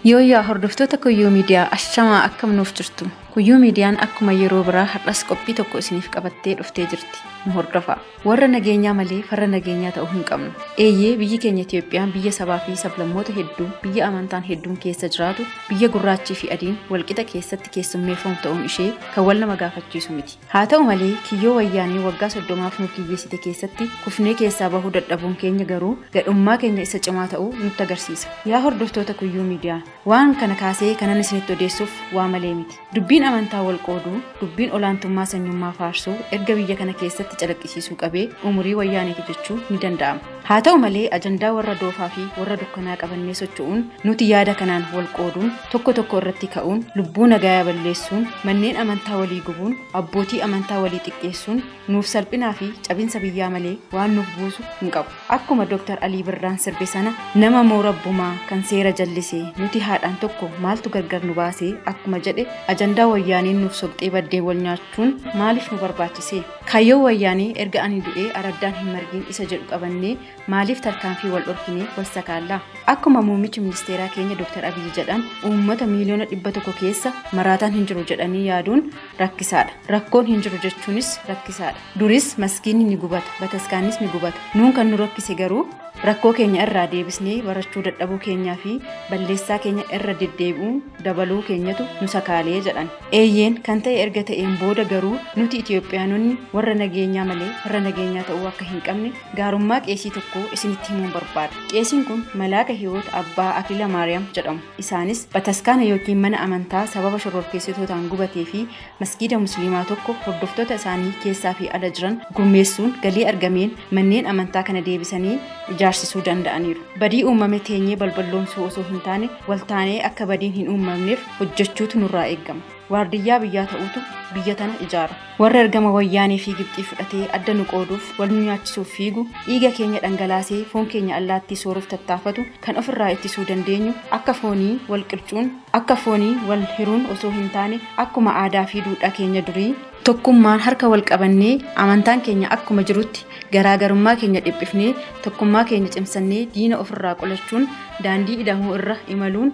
Yooyyaa hordoftoota Kuyyuu Miidiyaa ashamaa akkam nuuf jirtu. Kuyyuu Miidiyaan akkuma yeroo biraa har'as qophii tokko isiniif qabattee dhuftee jirti. Nu hordofaa. Warra nageenyaa malee farra nageenyaa ta'uu hin qabnu. Eeyyee biyyi keenya Itoophiyaan biyya sabaa fi sablammoota hedduu, biyya amantaan hedduun keessa jiraatu, biyya gurraachii fi adiin walqixa keessatti keessummeeffamu ta'uun ishee kan wal nama gaafachiisu miti. Haa ta'u malee kiyyoo wayyaanee waggaa soddomaaf nu kiyyeessite keessatti kufnee keessaa bahuu dadhabuun keenya garuu gadhummaa keenya isa cimaa ta'uu nutti agarsiisa. Yaa hordoftoota Kuyyuu Miidiyaa! Waan kana kaasee kanan isinitti odeessuuf waa malee miti. Dubbiin amantaa wal qooduu, dubbiin olaantummaa sanyummaa faarsuu erga biyya kana keessatti calaqqisiisuu qabee umurii Wayyaaneeti jechuu ni danda'ama. Haa ta'u malee ajandaa warra doofaa fi warra dukkanaa qabannee socho'uun nuti yaada kanaan wal qooduun, tokko tokko irratti ka'uun, lubbuu nagaayaa balleessuun, manneen amantaa walii gubuun, abbootii amantaa walii xiqqeessuun, nuuf salphinaa fi cabinsa biyyaa malee waan nuuf buusu hin qabu. Akkuma Dr. Alii Birraan sirbe sana nama moo rabbumaa kan seera jallise nuti haadhaan tokko maaltu gargar nu baase akkuma jedhe ajandaa wayyaaneen nuuf sobxee baddee wal nyaachuun maaliif nu barbaachise? Kaayyoo wayyaanee erga ani du'ee araddaan hin margiin isa jedhu qabannee maaliif tarkaanfii wal dhorkinee wal sakaallaa? Akkuma muummichi ministeeraa keenya Dr. Abiyyi jedhan uummata miiliyoona dhibba tokko keessa maraataan hin jiru jedhanii yaaduun rakkisaadha. Rakkoon hin jiru jechuunis rakkisaadha. Duris maskiinni ni gubata, bataskaannis ni gubata. Nuun kan nu rakkise garuu rakkoo keenya irraa deebisnee barachuu dadhabuu keenyaa fi balleessaa keenya irra deddeebi'uun dabaluu keenyatu nu sakaalee jedhan. Eeyyeen kan ta'e erga ta'een booda garuu nuti Itoophiyaanonni warra nageenyaa malee farra nageenyaa ta'uu akka hin qabne Gaarummaa qeesii tokkoo isinitti himuun barbaada. Qeesiin kun Malaaka Hiwoot Abbaa Akila Maariyaam jedhamu. Isaanis bataskaana ykn mana amantaa sababa shororkeessitootaan gubatee fi masgiida musliimaa tokko hordoftoota isaanii keessaa fi ala jiran gurmeessuun galii argameen manneen amantaa kana deebisanii ijaarsisuu danda'aniiru. Badii uumame teenyee balballoomsuu osoo hin taane waltaanee akka badiin hin uumamneef hojjechuutu nurraa eegama. Waardiyyaa biyyaa ta'uutu biyya tana ijaara. Warri ergama Wayyaanee fi Gibxii fudhatee adda nu qooduuf, wal nu nyaachisuuf fiigu, dhiiga keenya dhangalaasee foon keenya allaattii sooruuf tattaafatu kan ofirraa ittisuu dandeenyu akka foonii wal qircuun, akka foonii wal hiruun osoo hin taane akkuma aadaa fi duudhaa keenya durii, tokkummaan harka wal qabannee, amantaan keenya akkuma jirutti, garaa garummaa keenya dhiphifnee, tokkummaa keenya cimsannee diina ofirraa qolachuun daandii ida'amuu irra imaluun,